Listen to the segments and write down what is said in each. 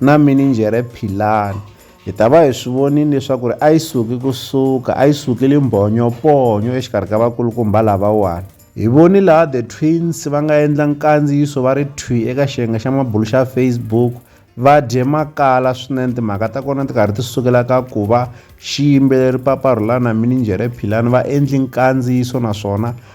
na mininjhere Philani. Hi ta va hi swi vonile leswaku ri a yi suki ku suka, a yi sukile mbhonyo-ponyo exikarhi ka vakulukumba lavawani. Hi voni laha The Twins va nga endla nkandziyiso va ri thwi eka xiyenge xa mabulu xa Facebook va dye makala swinene timhaka ta kona ti karhi ti sukela ka ku va xiyimbeleri Papa Rhulana na mininjhere Philani va endli nkandziyiso naswona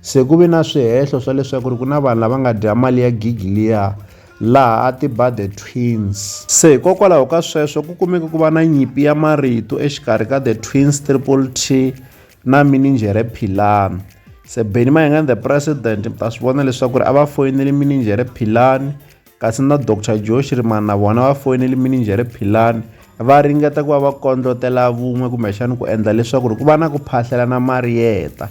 Se ku ve na swihehlo swa leswaku ri ku na vanhu lava nga dya mali ya gigi liya, laha a ti ba The Twins. Se hikokwalaho ka sweswo ku kumeke ku va na nyimpi ya marito exikarhi ka The Twins, Triple T na mininjhere Philani. Se Benny Mayengani The President mi ta swi vona leswaku ri a va foyinele mininjhere Philani, kasi na Doctor Joe Shirimani na vona va foyinele mininjhere Philani va ringeta ku va va kondlotela vun'we kumbexana ku endla leswaku ri ku va na ku phahlelana mariyeta.